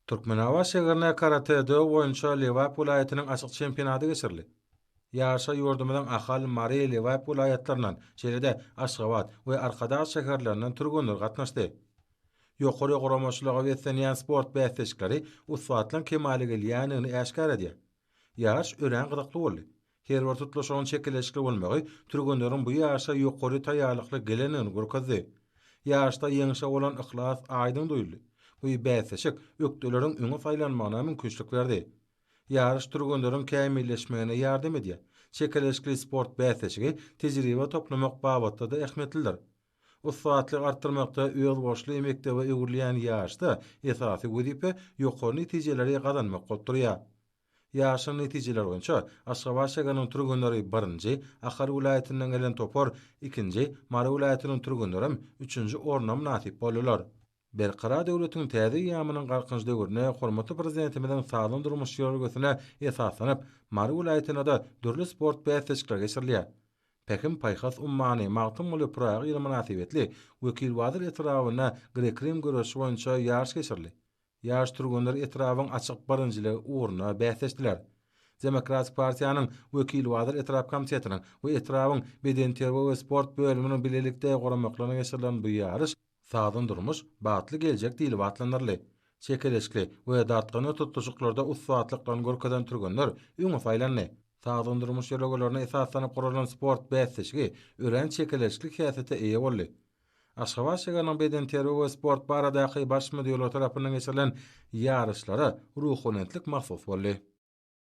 Türkmenabat şäherinde karate-do boýunça Lebap welaýatynyň açyk çempionady geçirildi. Ýaryşa ýurdumyzyň Ahal, Mary, Lebap welaýatlaryndan, şeýle-de Aşgabat we Arkadag şäherlerinden türgenler gatnaşdy. Ýokary guramaçylyga beslenýän sport bäsleşikleri ussatlygyň kemala gelýändigini äşgär edýär. Ýaryş örän gyzykly boldy. Her bir tutluşygyň çekeleşikli bolmagy türgenleriň bu ýaşa ýokary taýýarlykly gelendigini görkezdi. Ýaryşda ýeňşe bolan yhlas aýdyň duýuldy. Bu bäsleşik ökdeleriň öňe saýlanmagyna mümkinçilik berdi. Ýaryş türgenleriň kämilleşmegine ýardam edýär. Çekeleşikli sport bäsleşigi tejribe toplamak babatda-da ähmiýetlidir. Ussatlygy artdyrmakda özboluşly mekdebe öwrülýän ýaryşda esasy wezipe ýokary netijeleri gazanmak bolup durýar. Ýaryşyň netijeleri boýunça Aşgabat şägeriniň türgenleri birinji, Ahal welaýatyndan gelen topar ikinji, Mary welaýatynyň türgenlerem üçünji orna mynasyp boldular. Berkarar döwletiň täze eýýamynyň Galkynyş döwründe hormatly Prezidentimiziň sagdyn durmuş ýörelgesine esaslanyp, Mary welaýatynda-da dürli sport bäsleşikleri geçirilýär. Pähim-paýhas ummany Magtymguly Pyragy ýyly mynasybetli Wekilbazar etrabynda grek-rim göreşi boýunça ýaryş geçirildi. Ýaş türgenler etrabyň açyk birinjiligi ugrunda bäsleşdiler. Demokratik partiýanyň Wekilbazar etrap komitetiniň we etrabyň Bedenterbiýe we sport bölüminiň bilelikde guramaklaryna geçirilen bu ýaryş Sagdyn durmuş, bagtly geljek diýlip atlandyryldy. Çekeleşikli we dartgynly tutluşyklarda ussatlyklaryny görkezen türgenler öňe saýlandy. Sagdyn durmuş ýörelgelerine esaslanyp guralan sport bäsleşigi örän çekeleşikli häsiýete eýe boldy. Aşgabat şäheriniň bedenterbiýe we sport baradaky Baş müdirligi tarapyndan geçirilen ýaryşlara Ruhubelentlik mahsus boldy.